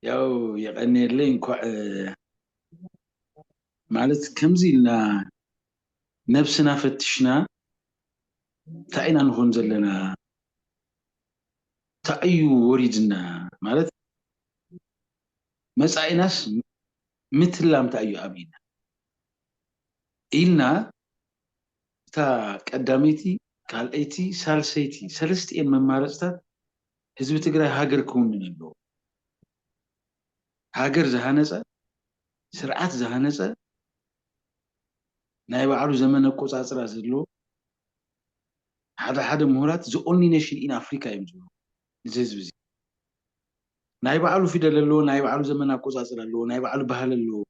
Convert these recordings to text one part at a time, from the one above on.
ያው የቀንየለይ እንኳዕ ማለት ከምዚ ኢልና ነብስና ፈትሽና እንታይ ኢና ንኾን ዘለና እንታይ እዩ ወሪድና ማለት መፃኢናስ ምትላም እንታይ እዩ ኣብና ኢልና እታ ቀዳመይቲ ካልኣይቲ ሳልሰይቲ ሰለስቲኤን መማረፅታት ህዝቢ ትግራይ ሃገር ክውንን ኣለዎ። ሃገር ዝሃነፀ፣ ስርዓት ዝሃነፀ፣ ናይ ባዕሉ ዘመን ኣቆፃፅራ ዘለዎ፣ ሓደ ሓደ ምሁራት the only nation in Africa እዮም ዝብልዎ ንዚ ህዝቢ እዚ። ናይ ባዕሉ ፊደል ኣለዎ፣ ናይ ባዕሉ ዘመን ኣቆፃፅራ ኣለዎ፣ ናይ ባዕሉ ባህሊ ኣለዎ፣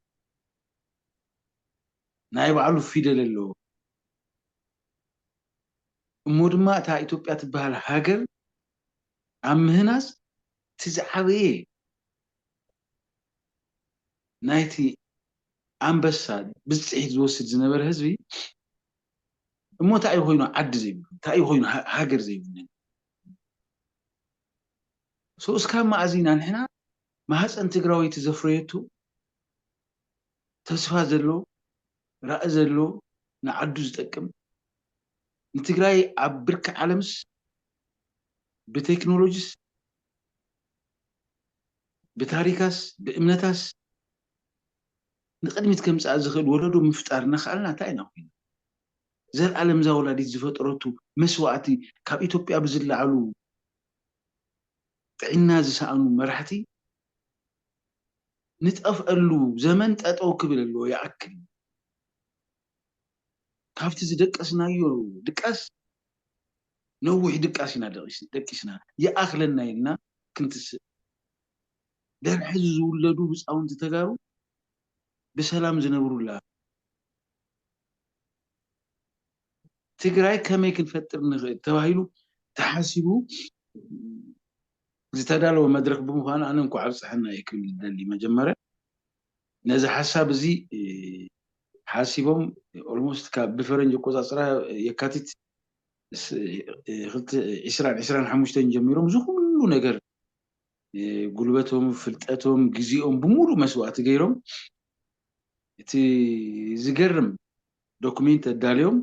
ናይ ባዕሉ ፊደል ኣለዎ። እሞ ድማ እታ ኢትዮጵያ ትበሃል ሃገር ኣብ ምህናጽ እቲ ዝዓበየ ናይቲ ኣንበሳ ብጽሒት ዝወስድ ዝነበረ ህዝቢ እሞ እንታይ እዩ ኮይኑ ዓዲ ዘይብሉ እንታይ እዩ ኮይኑ ሃገር ዘይብሉ ሰው እስካብ መኣዚ ኢና ንሕና ማህፀን ትግራወይቲ ዘፍረየቱ ተስፋ ዘሎ ራኢ ዘሎዎ ንዓዱ ዝጠቅም ንትግራይ ኣብ ብርኪ ዓለምስ ብቴክኖሎጂስ ብታሪካስ ብእምነታስ ንቅድሚት ከምፅኣ ዝክእል ወለዶ ምፍጣር እናክኣልና እንታይ ኢና ኮይና ዘልኣለም እዛ ወላዲት ዝፈጠረቱ መስዋእቲ ካብ ኢትዮጵያ ብዝላዓሉ ጥዒና ዝሳኣኑ መራሕቲ ንጠፍኣሉ ዘመን ጠጠው ክብል ኣለዎ ይኣክል ካብቲ ዝደቀስናዮ ድቃስ ነዊሕ ድቃስ ኢና ደቂስና ይኣኽለና ኢልና ክንትስእ ደር ሕዚ ዝውለዱ ህፃውንቲ ተጋሩ ብሰላም ዝነብሩላ ትግራይ ከመይ ክንፈጥር ንኽእል ተባሂሉ ተሓሲቡ ዝተዳለወ መድረኽ ብምዃኑ ኣነ እንኳዕ ኣብፀሐና እየ ክብል ዝደሊ መጀመርያ ነዚ ሓሳብ እዚ ሓሲቦም ኦልሞስት ካብ ብፈረንጅ ኣቆፃፅራ የካቲት ዕስራን ዕስራን ሓሙሽተን ጀሚሮም እዚ ኩሉ ነገር ጉልበቶም ፍልጠቶም ግዜኦም ብምሉእ መስዋእቲ ገይሮም እቲ ዝገርም ዶኩሜንት ኣዳልዮም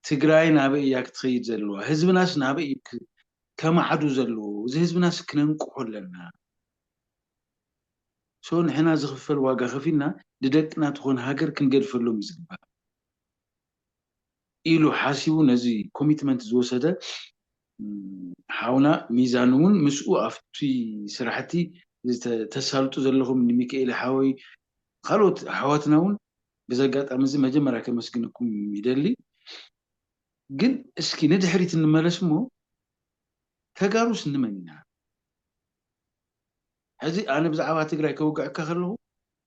ትግራይ ናበይ እያ ክትኸይድ ዘለዋ ህዝብናስ ናበይ እዩ ከማዕዱ ዘለዎ እዚ ህዝብናስ ክነንቅሖ ኣለና ሶ ንሕና ዝኽፈል ዋጋ ከፊልና ንደቅና ትኾን ሃገር ክንገድፈሎም እዩ ዝግባእ ኢሉ ሓሲቡ ነዚ ኮሚትመንት ዝወሰደ ሓውና ሚዛን እውን ምስኡ ኣብቲ ስራሕቲ ተሳልጡ ዘለኹም ንሚካኤል ሓወይ ካልኦት ኣሕዋትና እውን በዚ ኣጋጣሚ እዚ መጀመርያ ከመስግነኩም ይደሊ ግን እስኪ ንድሕሪት እንመለስ እሞ ተጋሩስ ንመን ኢና ሕዚ ኣነ ብዛዕባ ትግራይ ከውግዐካ ከለኹ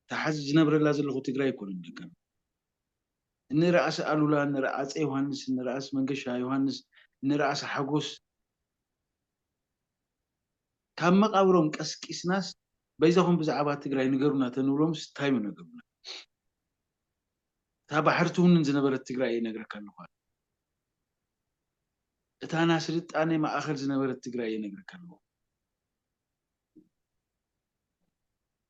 እታ ሓዚ ዝነብረላ ዘለኹ ትግራይ ኣይኮነን ደቀም ንራእሲ ኣሉላ ንራኣፀ ዮሃንስ ንራእሲ መንገሻ ዮሃንስ ንራእሲ ሓጎስ ካብ መቃብሮም ቀስቂስናስ በይዛኹም ብዛዕባ ትግራይ ንገሩና ተንብሎምስ ታይ ምነገሩና እታ ባሕሪ ትውንን ዝነበረት ትግራይ እየ ነግረካ ኣለኹ ኣነ እታ ናስልጣኔ ማኣኸል ዝነበረት ትግራይ እየ ነግረካ ኣለኹ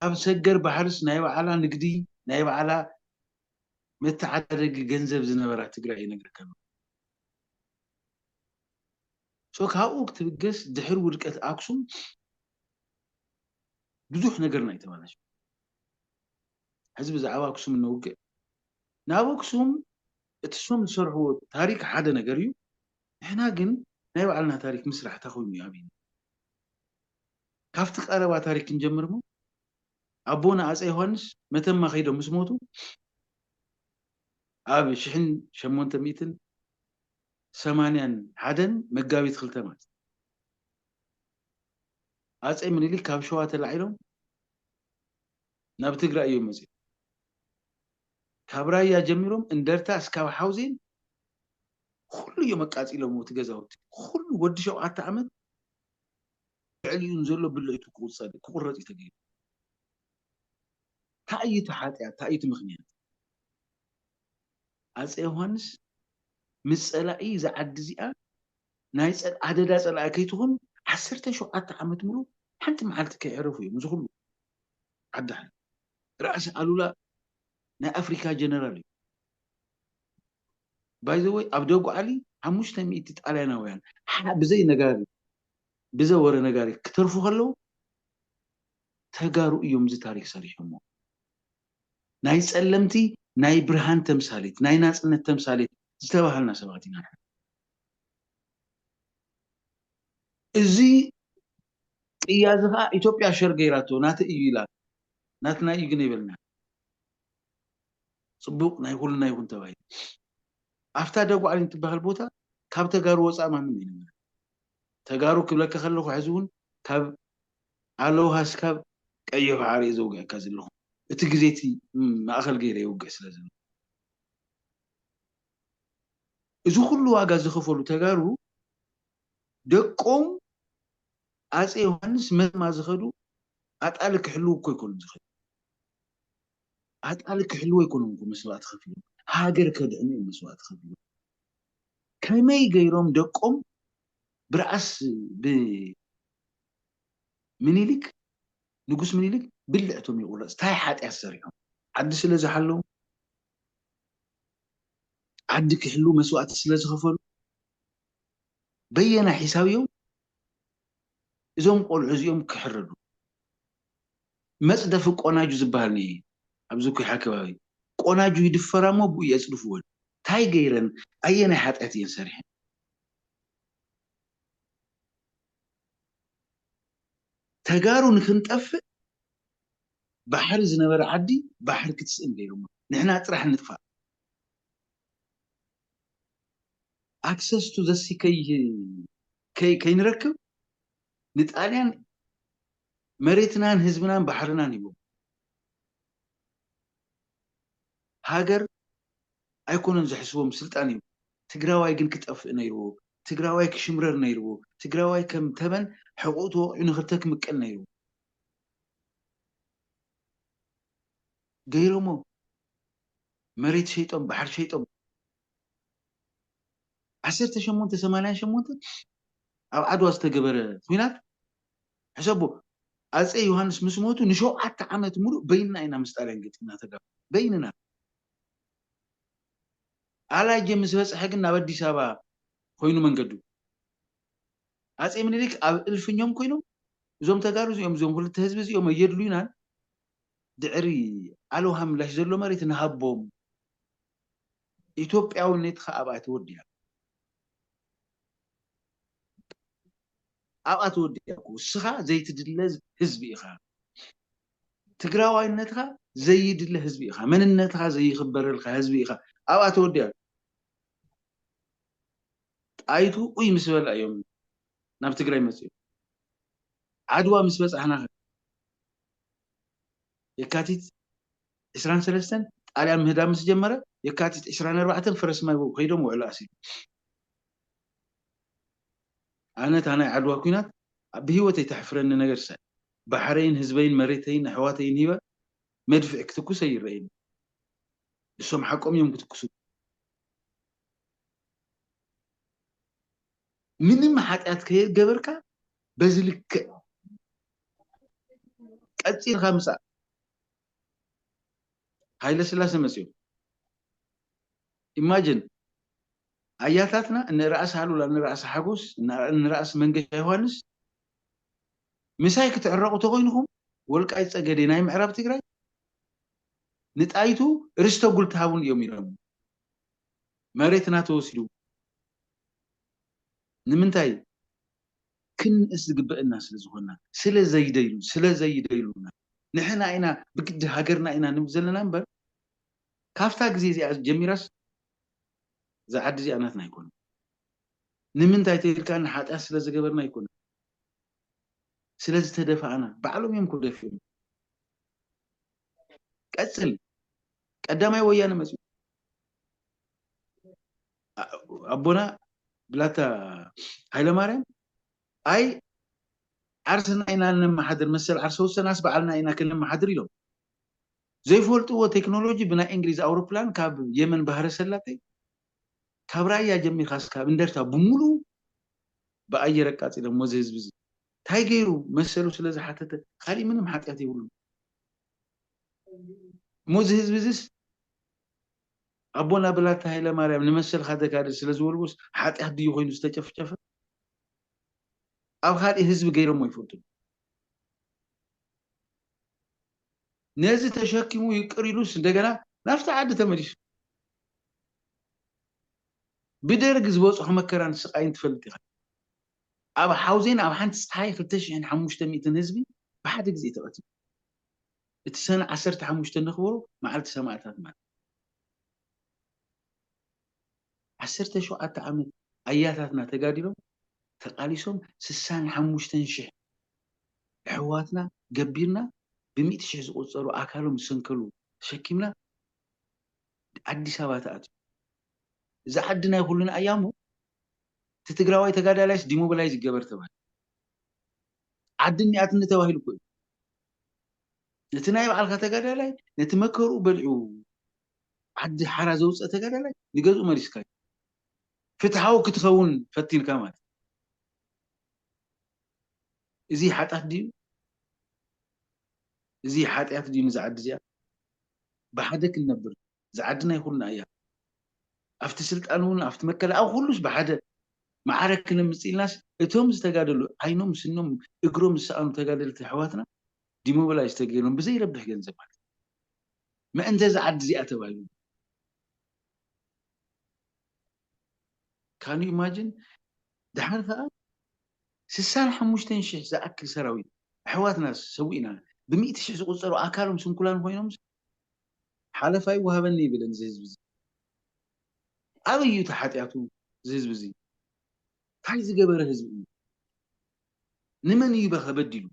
ኣብ ሰገር ባሕርስ ናይ ባዓላ ንግዲ ናይ ባዓላ መተዓዳደጊ ገንዘብ ዝነበራ ትግራይ እየ ነግረካ ኣለኹ። so ካብኡ ክትብገስ ድሕሪ ውድቀት ኣክሱም ብዙሕ ነገርና እዩ ተባላሽዩ ሕዚ ብዛዕባ ኣክሱም እነውግዕ ናብ ኣክሱም እቲ ሶም ዝሰርሕዎ ታሪክ ሓደ ነገር እዩ ንሕና ግን ናይ ባዕልና ታሪክ ምስራሕ እንታይ ኮይኑ እዩ ኣብይና ካብቲ ቀረባ ታሪክ ክንጀምር እሞ ኣቦና ኣፀ ዮሃንስ መተማ ከይዶም ምስ ሞቱ ኣብ ሽሕን ሸሞንተ ሚእትን ሰማንያን ሓደን መጋቢት ክልተ ማለት እዩ። ኣጼ ምኒሊክ ካብ ሸዋ ተላዒሎም ናብ ትግራይ እዮም መጺኦም። ካብ ራያ ጀሚሮም እንደርታ እስካብ ሓውዜን ኩሉ እዮም ኣቃጺሎምዎ እቲ ገዛውቲ ኩሉ ወዲ ሸውዓተ ዓመት ልዕሊኡ ንዘሎ ብለይቱ ክቁጸር እዩ ክቁረጽ እዩ ተገይሩ። ታይ እዩ እቲ ሓጥያት ታይ እዩ እቲ ምኽንያት? ኣፄ ዮሃንስ ምስ ፀላኢ እዛ ዓዲ እዚኣ ናይ ኣደዳ ፀላኢ ከይትኹን ዓሰርተ ሸውዓተ ዓመት ሙሉእ ሓንቲ መዓልቲ ከይዐረፉ እዮም እዚ ኹሉ ዓዲ ሓሪሮም። ራእሲ ኣሉላ ናይ ኣፍሪካ ጀነራል እዩ። ባይ ዘ ወይ ኣብ ደጉዓሊ ሓሙሽተ ሚእቲ ጣልያናውያን ሓ ብዘይ ነጋሪ ብዘ ወረ ነጋሪ ክተርፉ ከለው ተጋሩ እዮም እዚ ታሪክ ሰሪሖሞ። ናይ ጸለምቲ ናይ ብርሃን ተምሳሌት፣ ናይ ናጽነት ተምሳሌት ዝተባሃልና ሰባት ኢና ንሕና። እዚ ቅያ እዚ ከኣ ኢትዮጵያ ሸር ገይራቶ ናተይ እዩ ኢላ ናትና እዩ ግን ኣይበልናን። ጽቡቕ ናይ ኩልና ይኹን ተባሂሉ። ኣብታ ደጉዓሊን እትበሃል ቦታ ካብ ተጋሩ ወጻኢ ማንም ኣይነበረን። ተጋሩ ክብለካ ከለኹ ሕዚ እውን ካብ ኣለውሃ ስካብ ቀይሕ ባሕሪ እየ ዘውግዐካ ዘለኹ እቲ ግዜ እቲ ማእኸል ገይረ የውግዕ ስለ ዘለኹ እዚ ኩሉ ዋጋ ዝኸፈሉ ተጋሩ ደቆም ኣፄ ዮሃንስ መተማ ዝኸዱ ኣጣሊ ክሕልው እኮ ኣይኮኑን ዝኸዱ ኣጣሊ ክሕልው ኣይኮኑን እኮ መስዋእቲ ከፊሎም ሃገር ከድሕኑ እዮም መስዋእቲ ከፊሎም ከመይ ገይሮም ደቆም ብርዓስ ብ ምኒልክ ንጉስ ምኒልክ ብልዕ እቶም የቁረጽ ታይ ሓጥያት ሰሪሖም ዓዲ ስለ ዝሓለዉ ዓዲ ክሕልዉ መስዋእቲ ስለ ዝኸፈሉ በየናይ ሒሳብ እዮም እዞም ቆልዑ እዚኦም ክሕረዱ መጽደፊ ቆናጁ ዝብሃል እኒኤ ኣብዚ ኩሓ ከባቢ ቆናጁ ይድፈራ እሞ ብኡ የጽድፍወን ታይ ገይረን ኣየናይ ሓጥያት እየን ሰሪሐን። ተጋሩ ንክንጠፍእ ባሕሪ ዝነበረ ዓዲ ባሕሪ ክትስእን ገይሮማ ንሕና ጥራሕ ንጥፋእ ኣክሰስ ቱ ዘሲ ከይንረክብ ንጣልያን መሬትናን ህዝብናን ባሕርናን ሂቦም ሃገር ኣይኮነን ዘሕስቦም ስልጣን እዩ ትግራዋይ ግን ክጠፍእ ነይርዎ ትግራዋይ ክሽምረር ነይርዎ ትግራዋይ ከም ተመን ሕቁኡ ተወቂዑ ንክልተ ክምቀል ነይርዎ ገይሮሞ መሬት ሸይጦም ባሕሪ ሸይጦም ዓሰርተ ሸሞንተ ሰማንያን ሸሞንተ ኣብ ዓድዋ ዝተገበረ ኹናት ሕሰቡ ኣጼ ዮሃንስ ምስ ሞቱ ንሸውዓተ ዓመት ምሉእ በይንና ኢና ምስ ጣልያን ገጢምና ተጋሩ በይንና። ኣላጀ ምስ በጽሐ ግን ናብ ኣዲስ ኣበባ ኮይኑ መንገዱ። ኣጼ ምኒሊክ ኣብ እልፍኞም ኮይኖም እዞም ተጋሩ እዚኦም እዞም ክልተ ህዝቢ እዚኦም ኣየድሉዩናን ድዕሪ ኣልውሃ ምላሽ ዘሎ መሬት ንሃቦም ኢትዮጵያውነትካ ኣብኣ ተወዲኣ። ኣብኣ ተወዲኣኩ እስኻ ዘይትድለ ህዝቢ ኢኻ ትግራዋይነትኻ ዘይድለ ህዝቢ ኢኻ መንነትኻ ዘይኽበረልካ ህዝቢ ኢኻ ኣብኣ ተወዲኣኩ ጣይቱ ኡይ ምስ በላ እዮም ናብ ትግራይ መፅኦም ዓድዋ ምስ በፃሕና ከ የካቲት ዕስራን ሰለስተን ጣልያን ምህዳም ምስ ጀመረ፣ የካቲት ዕስራን ኣርባዕተን ፈረስ ማይ ወግ ከይዶም ውዕሎ ኣሲሮም። ኣነ እታ ናይ ዓድዋ ኩናት ኣብ ብህይወተይ ተሕፍረኒ ነገር እሳ እያ። ባሕረይን ህዝበይን መሬተይን ኣሕዋተይን ሂበ መድፍዕ ክትኩስ ኣይረኣይን እዩ። እሶም ሓቆም እዮም ክትኩሱ። ምንም ሓጢኣት ከየገበርካ በዚ ልክዕ ቀጺልካ ምጻእ ሃይለስላሰ መጺኦም ኢማጅን ኣያታትና እነ ራእሲ ሃሉላ እነ ራእሲ ሓጎስ እነ ራእሲ መንገሻ ዮሃንስ ምሳይ ክትዕረቑ ተኾይንኹም ወልቃይት ጸገዴ ናይ ምዕራብ ትግራይ ንጣይቱ ርስተ ጉል ትሃቡን እዮም ኢሎም መሬትና ተወሲዱ ንምንታይ ክንንእስ ዝግበእና ስለ ዝኾንና ስለ ዘይደይሉ ስለ ዘይደይሉና ንሕና ኢና ብግዲ ሃገርና ኢና ንብል ዘለና እምበር ካብታ ግዜ እዚኣ ጀሚራስ እዛ ዓዲ እዚኣ ናትና ኣይኮነን ንምንታይ ተይልካ ንሓጢኣት ስለ ዝገበርና ኣይኮነን ስለ ዝተደፋእና ባዕሎም እዮም ክደፍኦም ቀጽል ቀዳማይ ወያነ መጽኡ ኣቦና ብላታ ሃይለማርያም ኣይ ዓርስና ኢና ነመሓድር መሰል ዓርሰ ውሰናስ በዓልና ኢና ክነመሓድር ኢሎም ዘይፈልጥዎ ቴክኖሎጂ ብናይ እንግሊዝ ኣውሮፕላን ካብ የመን ባህረ ሰላጤ ካብ ራያ ጀሚርካ ስካብ እንደርታ ብምሉኡ ብኣየር ኣቃጺሎም ወዚ ህዝቢ እዚ እንታይ ገይሩ መሰሉ ስለ ዝሓተተ ካሊእ ምንም ሓጢኣት የብሉ እሞ እዚ ህዝቢ እዚስ ኣቦና ብላታ ሃይለማርያም ንመሰልካ ተጋደል ስለ ዝወልዎስ ሓጥያት ድዩ ኮይኑ ዝተጨፍጨፈ? ኣብ ካልእ ህዝቢ ገይሮሞ ኣይፈልጡን። ነዚ ተሸኪሙ ይቅር ኢሉስ እንደገና ናብቲ ዓዲ ተመሊሱ። ብደርግ ዝበጽሖ መከራን ስቃይን ትፈልጥ ኢኻ። ኣብ ሓውዜን ኣብ ሓንቲ ጸሓይ ክልተ ሽሕን ሓሙሽተ ሚእትን ህዝቢ ብሓደ ግዜ ተቀቲሉ። እቲ ሰነ ዓሰርተ ሓሙሽተ እነኽብሮ መዓልቲ ሰማእታት ማለት እዩ። ዓሰርተ ሸውዓተ ዓመት ኣያታትና ተጋዲሎም ተቓሊሶም ስሳን ሓሙሽተን ሽሕ ኣሕዋትና ገቢርና ብሚእቲ ሽሕ ዝቑጸሩ ኣካሎም ዝሰንከሉ ተሸኪምና ኣዲስ ኣበባ ተኣትዩ እዛ ዓዲ ናይ ኩልና እያ እሞ እቲ ትግራዋይ ተጋዳላይስ ዲሞብላይዝ ይገበር ተባሂሉ። ዓዲ እኒኣትኒ ተባሂሉ እኮ እዩ ነቲ ናይ ባዕልካ ተጋዳላይ ነቲ መከርኡ በሊዑ ዓዲ ሓራ ዘውፀ ተጋዳላይ ንገዝኡ መሊስካ እዩ ፍትሓዊ ክትኸውን ፈቲንካ ማለት እዚ ሓጣት ድዩ እዚ ሓጢኣት ድዩ ንዛ ዓዲ እዚኣ ብሓደ ክንነብር እዛ ዓዲ ናይ ኩልና እያ ኣብቲ ስልጣን እውን ኣብቲ መከላ ኣብ ኩሉስ ብሓደ ማዕረ ክነምፅ ኢልናስ እቶም ዝተጋደሉ ዓይኖም ስኖም እግሮም ዝሰኣኑ ተጋደልቲ ኣሕዋትና ዲሞቢላይዝ ተገይሮም ብዘይረብሕ ገንዘብ ማለት ምእንተ እዛ ዓዲ እዚኣ ተባሂሉ ካን ኢማጅን ድሓር ከዓ ስሳን ሓሙሽተን ሽሕ ዝኣክል ሰራዊት ኣሕዋትና ሰዊእና ብሚእቲ ሽሕ ዝቁፀሩ ኣካሎም ስንኩላን ኮይኖም ሓለፋ ይወሃበኒ ይብል እዚ ህዝቢ እዚ ኣበይ እዩ እቲ ሓጥያቱ እዚ ህዝቢ እዚ ታይ ዝገበረ ህዝቢ እዩ ንመን እዩ በኸ በዲሉ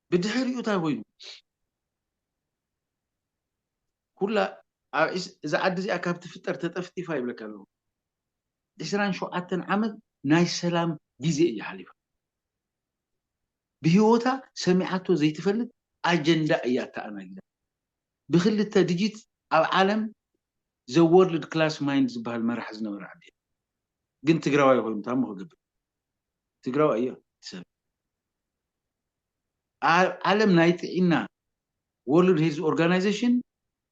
ብድሕሪኡ ታይ ኮይኑ ኩላ እዚ ዓዲ እዚኣ ካብ ትፍጠር ተጠፍጢፋ ይብለካ ኣለኹ ዕስራን ሸውዓተን ዓመት ናይ ሰላም ግዜ እዩ ሓሊፋ ብሂወታ ሰሚዓቶ ዘይትፈልጥ ኣጀንዳ እያ ኣተኣናጊዳ ብክልተ ድጂት ኣብ ዓለም ዘ ወርልድ ክላስ ማይንድ ዝብሃል መራሒ ዝነበረ ኣዴ ግን ትግራዋይ ኮይኑ ታሞ ክገብር ትግራዋይ እያ እቲ ሰብ ኣብ ዓለም ናይ ጥዒና ወርልድ ሄልዝ ኦርጋናይዜሽን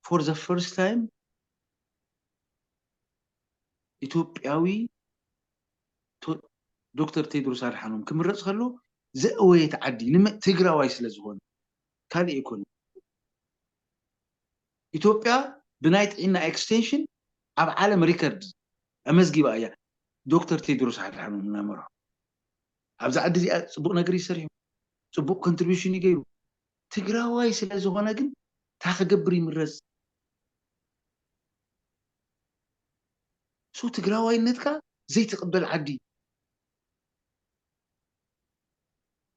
ፎር ዘ ፈርስት ታይም ኢትዮጵያዊ ዶክተር ቴድሮስ ኣድሓኖም ክምረፅ ከሎ ዘእወየት ዓዲ ንመ ትግራዋይ ስለ ዝኾነ ካልእ ኣይኮነን። ኢትዮጵያ ብናይ ጥዒና ኤክስቴንሽን ኣብ ዓለም ሪከርድ ኣመዝጊባ እያ ዶክተር ቴድሮስ ኣድሓኖም እናመርሖ ኣብዚ ዓዲ እዚኣ ፅቡቕ ነገር እዩ ሰሪሑ ፅቡቕ ኮንትሪቢሽን እዩ ገይሩ ትግራዋይ ስለ ዝኾነ ግን እንታይ ክገብር ይምረፅ so ትግራዋይነትካ ዘይትቅበል ዓዲ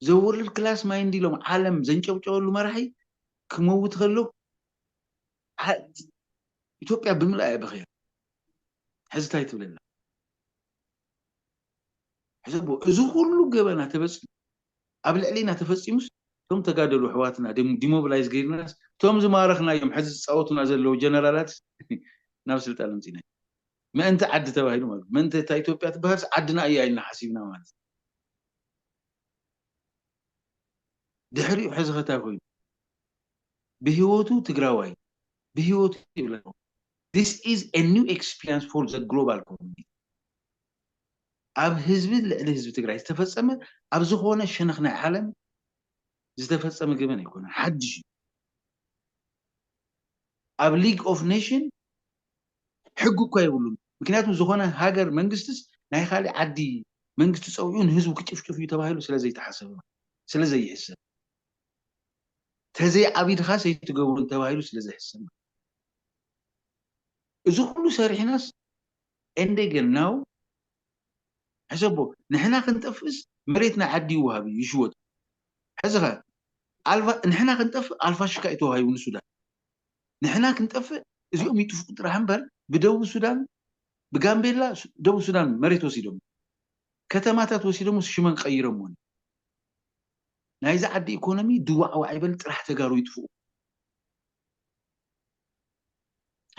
ዘወርልድ ክላስ ማይንድ ኢሎም ዓለም ዘንጨብጨበሉ መራሒ ክመውት ከሎ ኢትዮጵያ ብምልኣ እያ በኺያ ሕዚ እንታይ ትብለና ሕዚ እዚ ኩሉ ገበና ተበፂሑ ኣብ ልዕሊና ተፈጺሙስ እቶም ተጋደሉ ኣሕዋትና ዲሞብላይዝ ገይርናስ እቶም ዝማረኽናዮም ሐዚ ዝጻወቱና ዘለዉ ጀነራላትስ ናብ ስልጣን ኣምጺእናዮም ምእንቲ ዓዲ ተባሂሉ ማለት ምእንቲ እታ ኢትዮጵያ ትበሃልስ ዓድና እያ ኢልና ሓሲብና ማለት ድሕሪኡ ሐዚ ከታይ ኮይኑ ብህይወቱ ትግራዋይ ብህይወቱ ይብላ This is a new experience for the global community ኣብ ህዝቢ ልዕሊ ህዝቢ ትግራይ ዝተፈፀመ ኣብ ዝኾነ ሸነኽ ናይ ዓለም ዝተፈፀመ ገበን ኣይኮነን፣ ሓዱሽ እዩ። ኣብ ሊግ ኦፍ ኔሽን ሕጊ እኳ የብሉን። ምክንያቱ ዝኾነ ሃገር መንግስትስ ናይ ካሊእ ዓዲ መንግስቲ ፀዊዑ ንህዝቡ ክጭፍጭፍ እዩ ተባሂሉ ስለዘይተሓሰበ ስለዘይሕሰብ ተዘይ ዓቢድኻስ ኣይትገብሩን ተባሂሉ ስለዘይሕሰብ እዚ ኩሉ ሰሪሕናስ ኤንዴገል ናው ሕሰቦ ንሕና ክንጠፍእስ መሬትና ዓዲ ይወሃብ እዩ ይሽወጥ ሕዚኸ ኣልፋ ንሕና ክንጠፍእ ኣልፋሽካ እዩ ተዋሂቡ ንሱዳን ንሕና ክንጠፍእ እዚኦም ይጥፍኡ ጥራሕ እምበር ብደቡብ ሱዳን ብጋምቤላ ደቡብ ሱዳን መሬት ወሲዶም ከተማታት ወሲዶም ሽመን ቀይረሞ ናይዚ ዓዲ ኢኮኖሚ ድዋዕዋዕ ይበል ጥራሕ ተጋሩ ይጥፍኡ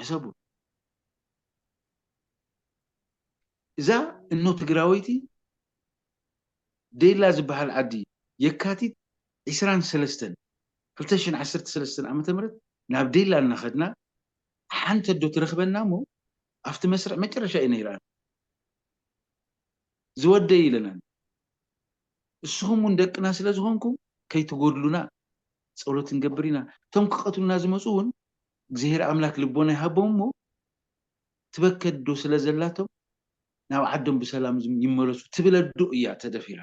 ሕሰቡ እዛ እኖ ትግራወይቲ ዴላ ዝብሃል ዓዲ የካቲት ዕስራን ሰለስተን ክልተ ሽሕን ዓሰርተ ሰለስተን ዓመተ ምህረት ናብ ዴላ እናኸድና ሓንቲ ኣዶ ትረኽበና እሞ ኣብቲ መስርዕ መጨረሻ እዩ ነይረኣን ዝወደይ ኢለናን እስኹም እውን ደቅና ስለዝኾንኩም ከይትጎድሉና ፀሎት ክንገብር ኢና እቶም ክቐትሉና ዝመፁ እውን እግዚሄር ኣምላክ ልቦና ይሃቦም እሞ ትበከ ኣዶ ስለ ዘላቶም ናብ ዓዶም ብሰላም ይመለሱ ትብል ኣዶ እያ ተደፊራ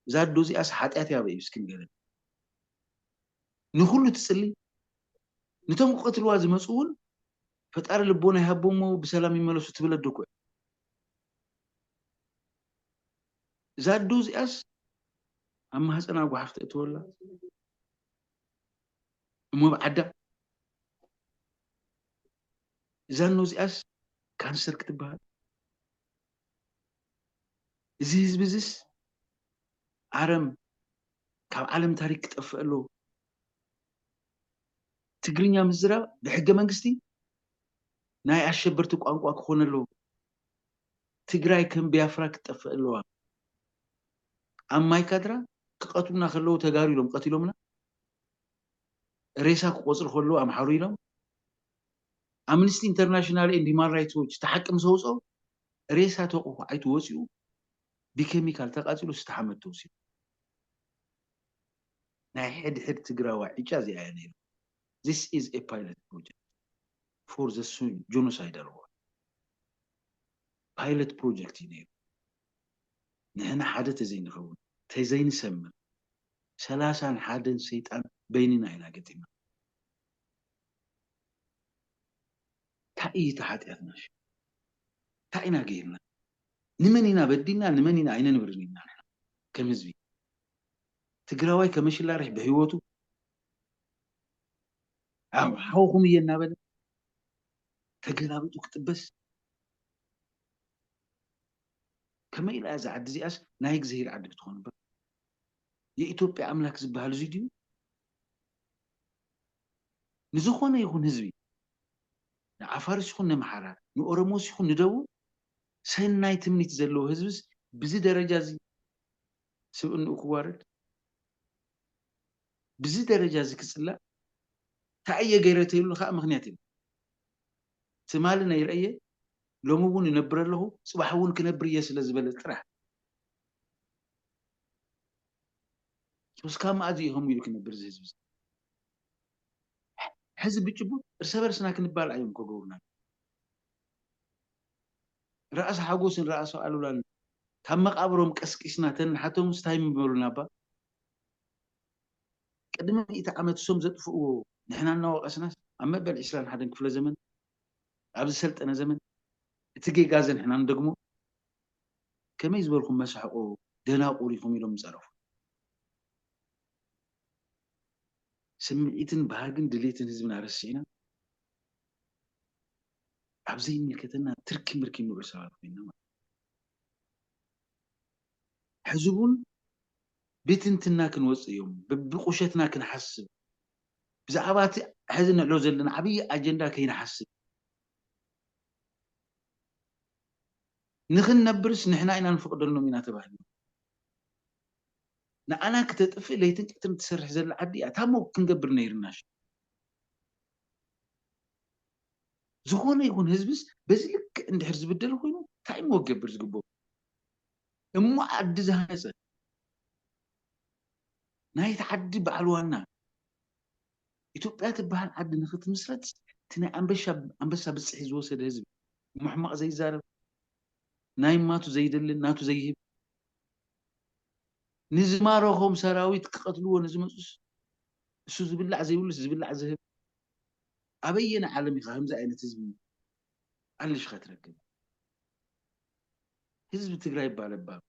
እዛ ኣዶ እዚኣስ ሓጢኣት እያ በይ እስኪ ንገረኒ ንኩሉ ትጽሊ ንቶም ክቀትልዋ ዝመጹ እውን ፈጣሪ ልቦና ይሃቦም እሞ ብሰላም ይመለሱ ትብል ኣዶ እኮ እዛ ኣዶ እዚኣስ ኣብ ማህፀና ጓሓፍ ተእትወላ እሞ ኣብ ዓዳ ዛኖ እዚኣስ ካንሰር ክትበሃል እዚ ህዝቢ እዚስ ኣረም ካብ ዓለም ታሪክ ክጠፍእ ኣለዎ ትግርኛ ምዝራብ ብሕገ መንግስቲ ናይ ኣሸበርቲ ቋንቋ ክኾነ ኣለዎ ትግራይ ከም ቢያፍራ ክትጠፍእ ኣለዋ ኣብ ማይካድራ ክቐትሉና ከለዉ ተጋሩ ኢሎም ቀቲሎምና ሬሳ ክቖጽሩ ከለዉ ኣምሓሩ ኢሎም፣ ኣምንስቲ ኢንተርናሽናል ኤንድ ሂማን ራይትስ ዎች እቲ ሓቂ ምስ ኣውጽኦ፣ ሬሳ ተቑሑ ኣይቱ ወጺኡ ብኬሚካል ተቓጺሉ ስተ ሓመድ ተወሲዱ። ናይ ሕድሕድ ትግራዋይ ዕጫ እዚኣ እያ ነይራ። This is a pilot project for the Genocidal war። ፓይለት ፕሮጀክት እዩ ነይሩ። ንሕና ሓደ ተዘይንኸውን ተዘይንሰምር ሰላሳን ሓደን ሰይጣን በይንና ኢና ገጢምና ታይ እዩ እቲ ሓጢኣትና ሽም ታይ ኢና ገይርና ንመን ኢና በዲልና ንመን ኢና ኣይነንብርን ኢና ንሕና ከም ህዝቢ ትግራዋይ ከመሽላርሕ ብህይወቱ ሓውኹም እየ እናበለ ተገላቢጡ ክጥበስ ከመይ ኢላ እያ እዛ ዓዲ እዚኣስ ናይ እግዝሂር ዓዲ ክትኾን እባ የኢትዮጵያ ኣምላክ ዝበሃል እዙይ ድዩ ንዝኾነ ይኹን ህዝቢ ንዓፋርስ ይኹን ነምሓራ ንኦሮሞስ ይኹን ንደቡብ ሰናይ ትምኒት ዘለዎ ህዝብስ ብዚ ደረጃ እዚ ስብእንኡ ክዋረድ ብዚ ደረጃ እዚ ክፅላእ እንታይ እየ ገይረ ተይብሉ ከዓ ምክንያት የብሉ ትማሊ ነይረ እየ ሎሚ እውን እነብር ኣለኹ ፅባሕ እውን ክነብር እየ ስለ ዝበለ ጥራሕ ሶ እስካብ መኣዝ እዩ ከምኡ ኢሉ ክነብር እዚ ህዝቢ እዚ ሕዚ ብጭቡጥ እርሰ በርስና ክንባላዕ እዮም ከገብሩና ራእሲ ሓጎስን ራእሲ ኣሉላን ካብ መቃብሮም ቀስቂስና ተንሓቶምስ ታይ ምበሉና እባ ቅድሚ ሚእቲ ዓመት እሶም ዘጥፍእዎ ንሕና እናወቐስናስ ኣብ መበል ዕስራን ሓደን ክፍለ ዘመን ኣብ ዝሰልጠነ ዘመን እቲ ጌጋዚ ንሕና ንደግሞ ከመይ ዝበልኩም መሳሕቖ ደናቑር ኢኹም ኢሎም ምጸረፉ። ስምዒትን ባህግን ድሌትን ህዝብና ረሲዕና ኣብ ዘይምልከተና ትርኪ ምርኪ እንውዕል ሰባት ኮይንና ማለት እዩ። ሕዚ'ውን ብትንትና ክንወጽእ እዮም፣ በብቁሸትና ክንሓስብ፣ ብዛዕባ እቲ ሕዚ ንዕሎ ዘለና ዓብዪ ኣጀንዳ ከይንሓስብ፣ ንኽንነብርስ ንሕና ኢና ንፈቕደሎም ኢና ተባሂሎም፣ ንዓና ክተጥፍእ ለይትን ቀትርን ትሰርሕ ዘላ ዓዲ እያ፣ ታሞ ክንገብር ነይርናሽ። ዝኾነ ይኹን ህዝብስ በዚ ልክዕ እንድሕር ዝብደል ኮይኑ ታይ እሞ ክገብር ዝግበኦ? እሞ ዓዲ ዝሃነፀ ናይቲ ዓዲ በዓል ዋና ኢትዮጵያ ትበሃል ዓዲ ንክትምስረት እቲ ናይ ኣንበሳ ብፅሒት ዝወሰደ ህዝቢ እሞ ሕማቕ ዘይዛረብ ናይ ማቱ ዘይደልን ናቱ ዘይህብ ንዝማረኾም ሰራዊት ክቐትልዎ ንዝመፁስ እሱ ዝብላዕ ዘይብሉስ ዝብላዕ ዝህብ ኣበየናይ ዓለም ኢኻ ከምዚ ዓይነት ህዝቢ ኣልሽ ከትረክብ ህዝቢ ትግራይ እባ ለባም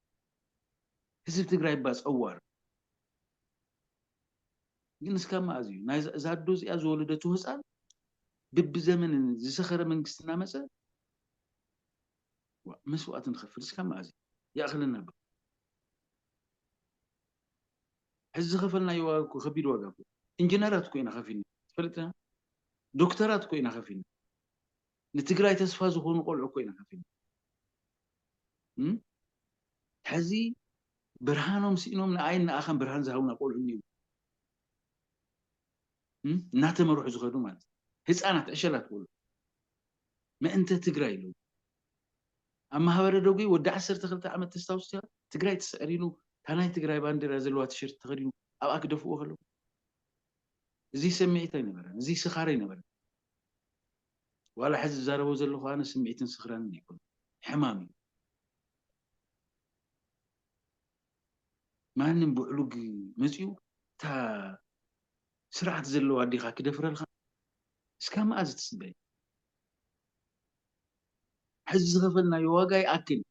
ህዝቢ ትግራይ እባ ፀዋር ግን እስካብ መኣዝ እዩ ናይ እዛ ኣዶ እዚኣ ዝወለደቱ ህፃን ብብዘመን ዝሰኸረ መንግስቲ እናመፀ መስዋእቲ ንኸፍል እስካብ መኣዝ እዩ ይኣኽለና ዶ ሕዚ ዝኸፈልናዮ ዋጋ እኮ ከቢድ ዋጋ እኮ ኢንጂነራት እኮ ኢና ከፊልና ትፈልጥና ዶክተራት እኮ ኢና ከፊልና ንትግራይ ተስፋ ዝኾኑ ቆልዑ እኮ ኢና ሓፊና እም ሕዚ ብርሃኖም ስኢኖም ንኣይን ንኣኻን ብርሃን ዝሃቡና ቆልዑ እኒዉ እም እናተመርሑ ዝኸዱ ማለት እዩ ህፃናት ዕሸላት ቆልዑ ምእንተ ትግራይ ኢሉ ኣብ ማህበረ ደጉ ወዲ ዓሰርተ ክልተ ዓመት ተስታውስ ኢኻ ትግራይ ትስዕር ኢሉ እታ ናይ ትግራይ ባንዴራ ዘለዋ ቲሸርት ተኸዲኑ ኣብኣ ክደፍእዎ ከለዉ እዚ ሰምዒት ኣይነበረን እዚ ስኻር ኣይነበረን ዋላ ሕዚ ዝዛረቦ ዘለኹ ኣነ ስምዒትን ስኽራንን ኣይኮንኩን ሕማም እዩ ማንም ብዕሉግ መፅኡ እታ ስርዓት ዘለዋ ኣዴኻ ክደፍረልካ እስካ መኣዝ ትፅበ ሕዚ ዝኸፈልናዮ ዋጋ ይኣክል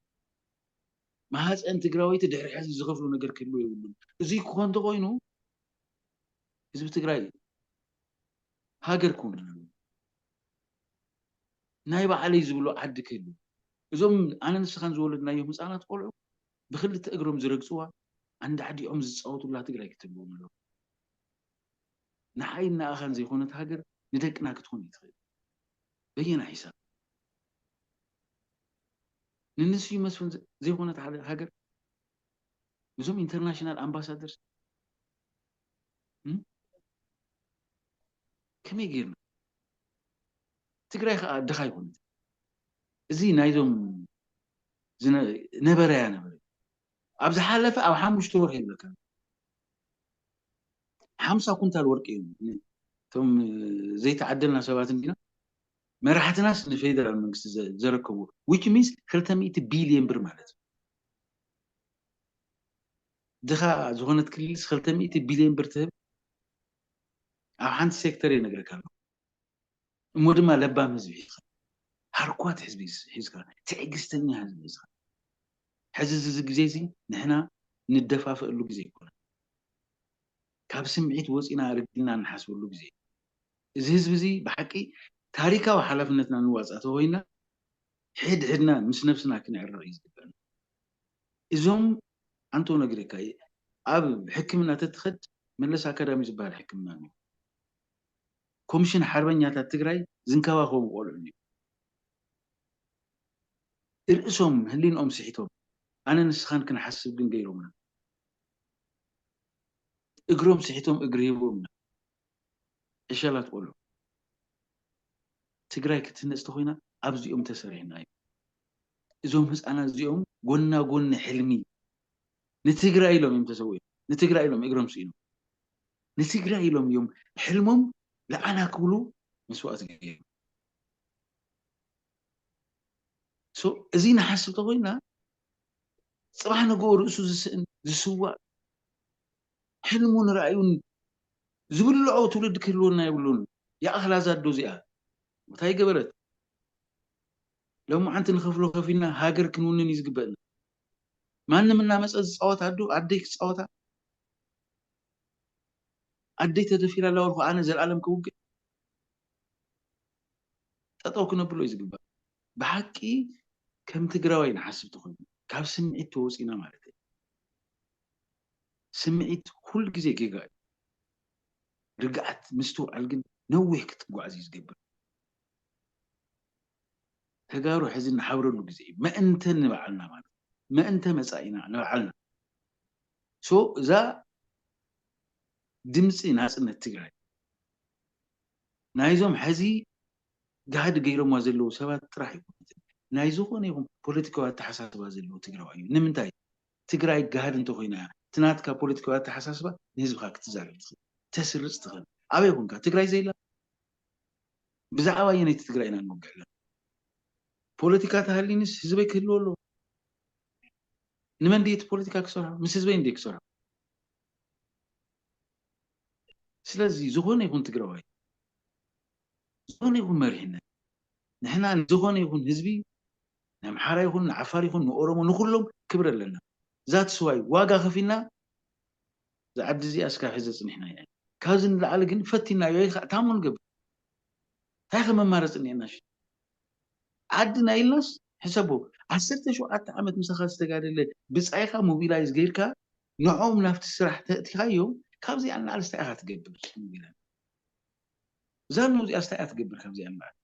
ማህፀን ትግራወይቲ ድሕሪ ሕዚ ዝኸፍሎ ነገር ክህልዎ የብሉን እዙይ ክኾን እንተኾይኑ ህዝቢ ትግራይ ሃገር ክውን ኣለዎ ናይ ባዕለይ ዝብሎ ዓዲ ክህልዎ እዞም ኣነ ንስኻን ዝወለድናዮም ህፃናት ቆልዑ ብክልተ እግሮም ዝረግፅዋ ኣንዳዕዲዖም ዝፃወቱላ ትግራይ ክትህልዎም ኣለዋ ንዓይን ንኣኻን ዘይኾነት ሃገር ንደቅና ክትኾን ይትኽእል በየና ሒሳብ ንንስዩ መስፍን ዘይኮነት ሃገር እዞም ኢንተርናሽናል ኣምባሳደር ከመይ ጌርና ትግራይ ከዓ ድኻ ኣይኮነት እዚ ናይዞም ነበረያ ነበረ ኣብ ዝሓለፈ ኣብ ሓሙሽተ ወርሒ ይብለካ ሓምሳ ኩንታል ወርቂ እዩ እቶም ዘይተዓደልና ሰባት እንዲና መራሕትናስ ንፌደራል መንግስቲ ዘረከብዎ ዊች ሚንስ ክልተ ሚእቲ ቢልየን ብር ማለት እዩ ድኻ ዝኾነት ክልልስ ክልተ ሚእቲ ቢልዮን ብር ትህብ? ኣብ ሓንቲ ሴክተር እየ ነግረካ ኣለኹ። እሞ ድማ ለባም ህዝቢ ሒዝካ፣ ሃርኳት ህዝቢ ሒዝካ፣ ትዕግስተኛ ህዝቢ ሒዝካ። ሕዚ እዚ ግዜ'ዚ ንሕና ንደፋፈኣሉ ግዜ ኣይኮነን። ካብ ስምዒት ወጺእና ርጊእና ንሓስበሉ ግዜ እዩ። እዚ ህዝቢ'ዚ ብሓቂ ታሪካዊ ሓላፍነትና ንዋጻእ ተኾይንና ሕድሕድና ምስ ነብስና ክንዕረቕ እዩ ዝግበእና። እዞም ኣንተው ነግሬካ ኣብ ሕክምና ተትኸድ መለስ ኣካዳሚ ዝበሃል ሕክምና ኣሎ ኮምሽን ሓርበኛታት ትግራይ ዝንከባኸቦም ቆልዑ እኒኦ እርእሶም ህሊንኦም ስሒቶም ኣነ ንስኻን ክንሓስብ ግን ገይሮምና እግሮም ስሒቶም እግሪ ሂቦምና ዕሸላት ቆልዑ ትግራይ ክትህነፅ ተኾይና ኣብዚኦም ተሰሪሕና እዩ። እዞም ህፃናት እዚኦም ጎና ጎኒ ሕልሚ ንትግራይ ኢሎም እዮም ተሰዊኦም ንትግራይ ኢሎም እግሮም ስኢኖም ንትግራይ ኢሎም እዮም ሕልሞም ለዓና ክብሉ መስዋእቲ ገይሩ እዚ ንሓስብ ተኮይና ፅባሕ ንግኡ ርእሱ ዝስእን ዝስዋእ ሕልሙን ራእዩን ዝብልዖ ትውልዲ ክህልወና የብሉን። ይኣኽላ ዛዶ እዚኣ እንታይ ገበረት? ሎማዓንቲ ንከፍሎ ከፊልና ሃገር ክንውንን እዩ ዝግበእና ማንም እናመፀ ዝፃወት ኣዱ ኣደይ ክፃወታ ኣደይ ተደፊራ ኣላ ወልኩ ኣነ ዘልኣለም ክውግእ ጠጠው ክነብሎ እዩ ዝግባእ ብሓቂ ከም ትግራዋይ ንሓስብ ተኮይና ካብ ስምዒት ተወፂና ማለት እዩ ስምዒት ኩሉ ግዜ ጌጋ እዩ ርግኣት ምስትውዓል ግን ነዊሕ ክትጓዓዝ እዩ ዝገብር ተጋሩ ሕዚ ንሓብረሉ ግዜ እዩ መእንተ ንባዕልና ማለት መእንተ መጻኢና ንባዕልና ሶ እዛ ድምፂ ናፅነት ትግራይ ናይዞም ሕዚ ጋህዲ ገይሮምዋ ዘለዉ ሰባት ጥራሕ ኣይኮነትን ናይ ዝኾነ ይኹን ፖለቲካዊ ኣተሓሳስባ ዘለዎ ትግራዋይ እዩ ንምንታይ ትግራይ ጋህዲ እንተኮይና እያ እቲ ናትካ ፖለቲካዊ ኣተሓሳስባ ንህዝብካ ክትዛረብ ትኽእል ተስርፅ ትኽእል ኣበይ ኮንካ ትግራይ ዘይላ ብዛዕባ ኣየነይቲ ትግራይ ኢና ንወግሕ ዘለና? ፖለቲካ ተሃልዩንስ ህዝበይ ክህልዎ ኣለዎ? ንመን ድየ እቲ ፖለቲካ ክሰርሖ? ምስ ህዝበይ እንድየ ክሰርሖ። ስለዚ ዝኾነ ይኹን ትግራዋይ፣ ዝኾነ ይኹን መሪሕነት፣ ንሕና ንዝኾነ ይኹን ህዝቢ ንኣምሓራ ይኹን ንዓፋር ይኹን ንኦሮሞ ንኹሎም ክብሪ ኣለና። ዛትስ ዋይ ዋጋ ከፊልና እዛ ዓዲ እዚኣ እስካብ ሕዚ ኣፅኒሕናያ ኢና ካብዚ ንላዕሊ ግን ፈቲናዮ ይካእ ታሞ ንገብር እንታይ ከ መማረፂ እኒኤና ሽም ዓድና ኢልናስ ሕሰቦ ዓሰርተ ሸውዓተ ዓመት ምሳካ ዝተጋደለ ብፃይካ ሞቢላይዝ ገይርካ ንዕኦም ናብቲ ስራሕ ተእቲካዮም ካብዚኣ ንላዕሊ ስታይ ኢካ ትገብር ሞቢላይዝ ዛኖ እዚኣ ስታይ እያ ትገብር ካብዚኣ ንላዕሊ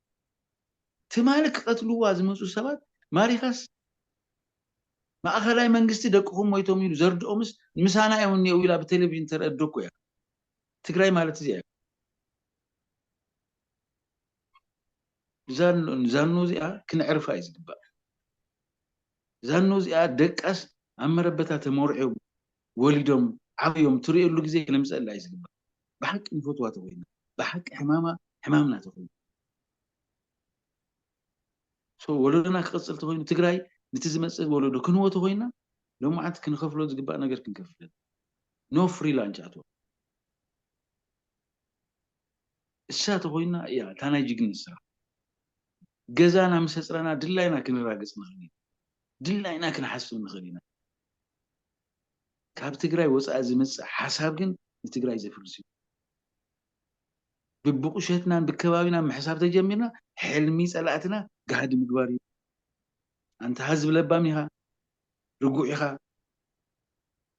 ትማሊ ክቀትልዋ ዝመፁ ሰባት ማሪካስ ማእኸላይ መንግስቲ ደቅኹም ሞይቶም ኢሉ ዘርድኦምስ ምሳና እዮም እኒኤው ኢላ ብቴሌቪዥን ተርእ ኣዶ እኮ እያ። ትግራይ ማለት እዚኣ እያ። ዛኖ እዚኣ ክነዕርፋ እዩ ዝግባእ። ዛኖ እዚኣ ደቃስ ኣብ መረበታ ተሞርዕዮም ወሊዶም ዓብዮም ትርእየሉ ግዜ ክነምፀላ እዩ ዝግባእ። ብሓቂ ንፈትዋ ተኾይና ብሓቂ ሕማማ ሕማምና ተኾይኑ so ወለዶና ክቅጽል ተኾይኑ ትግራይ ንቲ ዝመጽእ ወለዶ ክንወ ተኾይና ሎማዓንቲ ክንኸፍሎ ዝግባእ ነገር ክንከፍል no free lunch at all እሳ ተኾይና እያ እታ ናይ ጅግነት ስራሕ ገዛና ምስ ኣጽረና ድላይና ክንራገጽ ንኽእል ኢና ድላይና ክንሓስብ ንኽእል ኢና ካብ ትግራይ ወጻኢ ዝመጽእ ሓሳብ ግን ንትግራይ ዘፍርስ እዩ ብብቑሸትናን ብከባቢናን ምሕሳብ ተጀሚርና ሕልሚ ጸላእትና ጋህዲ ምግባር እዩ። ኣንታ ሀዝቢ ለባም ኢኻ ርጉዕ ኢኻ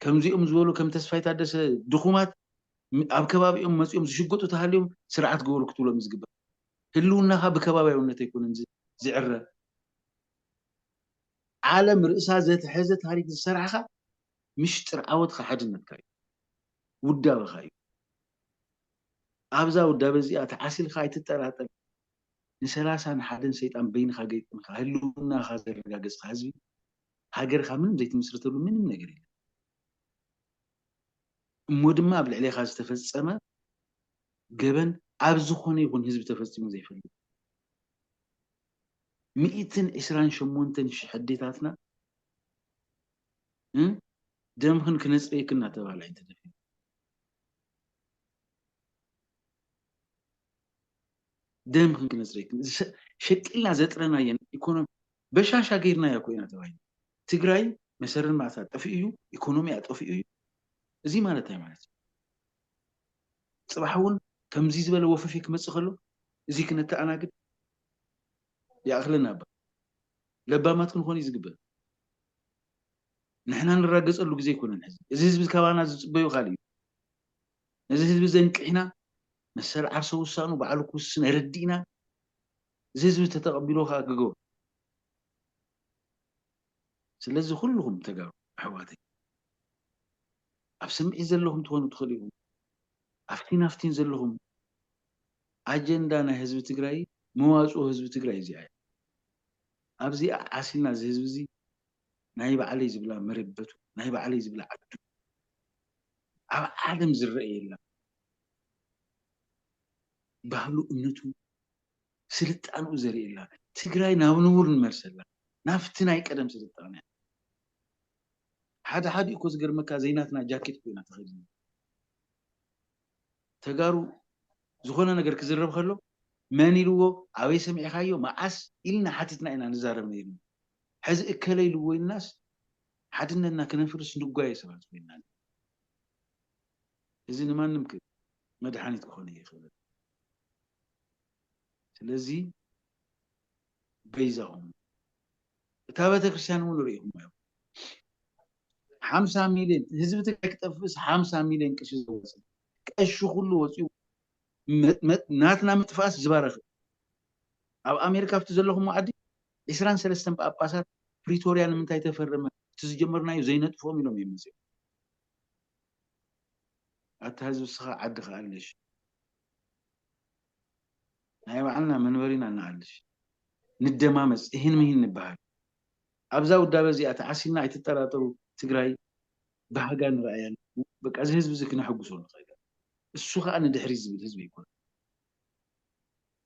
ከምዚኦም ዝበሉ ከም ተስፋይ ታደሰ ድኹማት ኣብ ከባቢኦም መጺኦም ዝሽጉጡ ተሃልዮም ስርዓት ግበሩ ክትብሎም እዩ ዝግባእ ህልውናኻ ብከባቢያውነት ኣይኮነን ዝዕረ ዓለም ርእሳ ዘትሐዘ ታሪክ ዝሰራሕኻ ምሽጥር ዓወትኻ ሓድነትካ እዩ ውዳበኻ እዩ ኣብዛ ውዳበ እዚኣ ተዓሲልካ ኣይትጠራጠር ንሰላሳን ሓደን ሰይጣን በይንኻ ገይጥምካ ህልውናኻ ዘረጋገጽካ ህዝቢ ሃገርካ ምንም ዘይትምስርተሉ ምንም ነገር የለን። እሞ ድማ ኣብ ልዕሌኻ ዝተፈጸመ ገበን ኣብ ዝኾነ ይኹን ህዝቢ ተፈጺሙ ዘይፈልጥ ሚእትን ዕስራን ሸሞንተን ሽሕ ኣዴታትና ደምኽን ክነጽርየክን እናተባህላ እየን ተደፊረን። ደም ክንክነጽሪ ሸቂልና ዘጥረናየን ኢኮኖሚ በሻሻ ገይርናዮ እኮ ኢና ተባሂሉ ትግራይ መሰረ ልምዓታ ጠፊኡ እዩ ኢኮኖሚያ ጠፊኡ እዩ እዚ ማለት እንታይ ማለት እዩ ፅባሕ እውን ከምዚ ዝበለ ወፈፌ ክመፅእ ከሎ እዚ ክነተኣናግድ ይኣኽለና ባ ለባማት ክንኾን እዩ ዝግበር ንሕና ንራገጸሉ ግዜ ኣይኮነን ሕዚ። እዚ ህዝቢ ካባና ዝጽበዮ ካልእ እዩ። ነዚ ህዝቢ እዚ ኣንቂሕና መሰል ዓርሰ ውሳኑ ባዕሉ ክውስን ኣረዲእና እዚ ህዝቢ ተተቐቢልዎ ከኣ ክገብሮ ስለዚ ኩሉኹም ተጋሩ ኣሕዋተይ ኣብ ስምዒት ዘለኹም ትኾኑ ትኽእሉ ኢኹም ኣፍቲን ኣፍቲን ዘለኹም ኣጀንዳ ናይ ህዝቢ ትግራይ መዋፅኦ ህዝቢ ትግራይ እዚኣ እያ ኣብዚኣ ዓሲልና እዚ ህዝቢ እዚ ናይ ባዕለይ ዝብላ መረበቱ ናይ ባዕለይ ዝብላ ዓዱ ኣብ ዓለም ዝረኣየላ ባህሉ እምነቱ ስልጣንኡ ዘርእየላ ትግራይ ናብ ንቡር ንመልሰላ ናብቲ ናይ ቀደም ስልጣንያ ሓደ ሓደ እኮ ዝገርመካ ዘይናትና ጃኬት ኮይና ተኸዲና ተጋሩ ዝኾነ ነገር ክዝረብ ከሎ መን ኢልዎ ኣበይ ሰሚዕኻዮ መዓስ ኢልና ሓቲትና ኢና ንዛረብ ነይርና ሕዚ እከለ ኢልዎ ኢልናስ ሓድነትና ክነፍርስ ንጓየ ሰባት ኮይንና ኣለና። እዚ ንማንም ክብ መድሓኒት ክኾን ኣይኽእልን። ስለዚ በይዛኹም እታ ቤተክርስትያን እውን ርኢኹምዋ ኢኹም ሓምሳ ሚልዮን ህዝቢ ትግራይ ክጠፍእስ ሓምሳ ሚልዮን ቅርሺ ዘዋፅእ ቀሺ ኩሉ ወፂኡ ናትና ምጥፋእስ ዝባረኽ ኣብ ኣሜሪካ ኣብቲ ዘለኹም ዓዲ ዕስራን ሰለስተን ጳጳሳት ፕሪቶርያ ንምንታይ ተፈረመ እቲ ዝጀመርናዮ ዘይነጥፎም ኢሎም እዮም መጺኦም። ኣታ ህዝቢ እስኻ ዓዲ ክኣልሽ ናይ ባዕልና መንበሪ ኢና እንኣልሽ ንደማመጽ እሂን ምሂን ንበሃል ኣብዛ ውዳበ እዚኣ ተዓሲልና ኣይትጠራጠሩ ትግራይ ባህጋ ንርኣያ ኣለና በቃ እዚ ህዝቢ እዚ ክነሐጉሶ ንኽእል እሱ ኸኣ ንድሕሪት ዝብል ህዝቢ ኣይኮነን።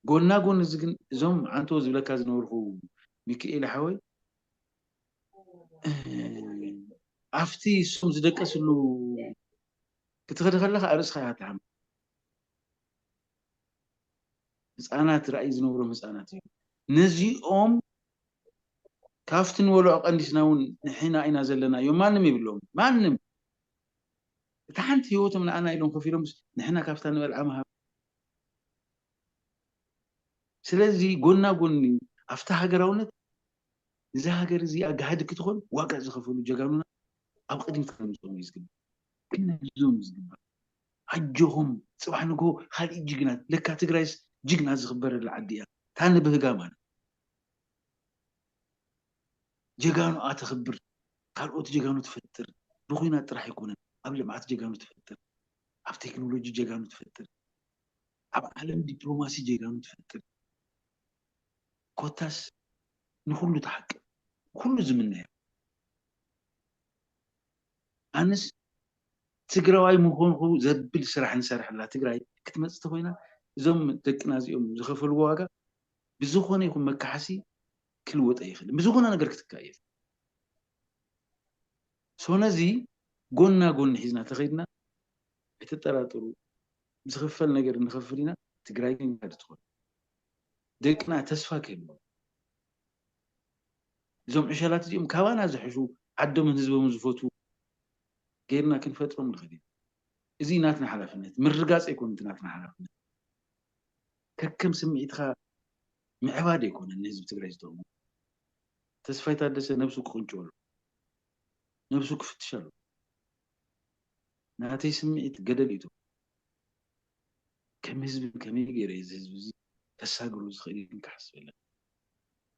ጎና ጎኒ እዚ ግን እዞም ዓንተቦ ዝብለካ ዝነበርኩ ሚኪኤለ ሓወይ ኣብቲ እሶም ዝደቀስሉ ክትኸዲ ከለኻ ኣርእስኻ ኢኻ ትሓምም። ህፃናት ራእይ ዝነብሮም ህፃናት እዮም። ነዚኦም ካፍቲ ንበልዖ ቀንዲስና እውን ንሕና ኢና ዘለና እዮም ማንም የብሎም ማንም እታ ሓንቲ ህይወቶም ንኣና ኢሎም ከፊሎምስ ንሕና ካብታ ንበልዓ ምሃብ ስለዚ ጎና ጎኒ ኣብቲ ሃገራውነት እዛ ሃገር እዚኣ ጋህዲ ክትኾን ዋጋ ዝኸፈሉ ጀጋኑና ኣብ ቕድሚት ከነምጽኦም እዩ ዝግባእ። ክንሕግዞም እዩ ዝግባእ። ኣጆኹም ጽባሕ ንግሆ ኻልኢት ጅግና ለካ ትግራይስ ጅግና ዝኽበረላ ዓዲ እያ እታ ንብህጋ ማለት ጀጋኑኣ ተኽብር ካልኦት ጀጋኑ ትፈጥር ብኹናት ጥራሕ ኣይኮነን ኣብ ልምዓት ጀጋኑ ትፈጥር። ኣብ ቴክኖሎጂ ጀጋኑ ትፈጥር ኣብ ዓለም ዲፕሎማሲ ጀጋኑ ትፈጥር ኮታስ ንኹሉ ትሓቅብ ኩሉ ዝምነዮ ኣነስ ትግራዋይ ምኾንኹ ዘብል ስራሕ ንሰርሐላ ትግራይ ክትመፅእ ተኾይና እዞም ደቅና እዚኦም ዝኸፈልዎ ዋጋ ብዝኾነ ይኹን መካሓሲ ክልወጥ ኣይኽእልን ብዝኾነ ነገር ክትካእ እየ so ነዚ ጎና ጎኒ ሒዝና ተኸይድና ኣይትጠራጠሩ ዝኽፈል ነገር ንኸፍል ኢና ትግራይ ግን ጋህዲ ትኾን ደቅና ተስፋ ክህልዎም እዞም ዕሸላት እዚኦም ካባና ዝሕሹ ዓዶምን ህዝቦምን ዝፈትዉ ገይርና ክንፈጥሮም ንኽእል ኢና እዚ ናትና ሓላፍነት ምርጋፅ ኣይኮነ እቲ ናትና ሓላፍነት ከከም ስምዒትኻ ምዕባድ ኣይኮነን ንህዝቢ ትግራይ ዝጠቕሙ ተስፋይ ታደሰ ነብሱ ክቅንጭው ኣለዎ ነብሱ ክፍትሽ ኣለዎ ናተይ ስምዒት ገደል እዩ ተወዲቁ ከም ህዝቢ ከመይ ገይረ እየ እዚ ህዝቢ እዚ ከሳግሮ ዝክእል ኢልካ ሓስብ ኣለካ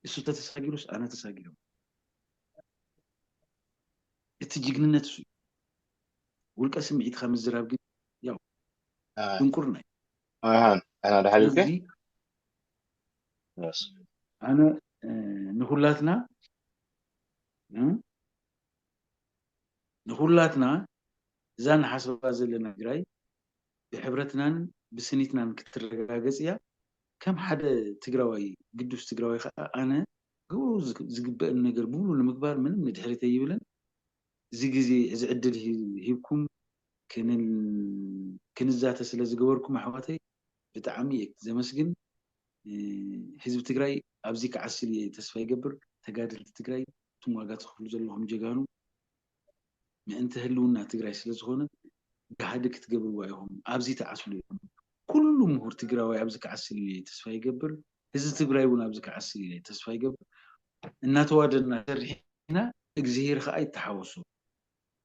እሱ ተተሳጊሩስ ኣነ ተሳጊረ ማለት እቲ ጅግንነት እሱ እዩ ውልቀ ስምዒትካ ምዝራብ ግን ያው ድንቁርና እዩ ኣሃ ኣና ዳሓልልከ ስለዚ ኣነ ንኩላትና ንኩላትና እዛ ንሓስባ ዘለና ትግራይ ብሕብረትናን ብስኒትናን ክትረጋገፅ እያ ከም ሓደ ትግራዋይ ግዱስ ትግራዋይ ከዓ ኣነ ግብሩ ዝግበእን ነገር ብሙሉ ንምግባር ምንም ንድሕሪት ኣይብልን እዚ ግዜ እዚ ዕድል ሂብኩም ክንዛተ ስለ ዝገበርኩም ኣሕዋተይ ብጣዕሚ እየ ዘመስግን ህዝቢ ትግራይ ኣብዚ ክዓስል እየ ተስፋ ይገብር ተጋደልቲ ትግራይ እቱም ዋጋ ትኽፍሉ ዘለኹም ጀጋኑ ምእንተ ህልውና ትግራይ ስለ ዝኾነ ጋህዲ ክትገብርዎ ኣይኹም ኣብዚ ትዓስሉ ኢኹም ኩሉ ምሁር ትግራዋይ ኣብዚ ክዓስል እየ ተስፋ ይገብር ህዝቢ ትግራይ እውን ኣብዚ ክዓስል እየ ተስፋ ይገብር እናተዋደና ሰሪሕና እግዚኣብሔር ከዓ ይተሓወሶ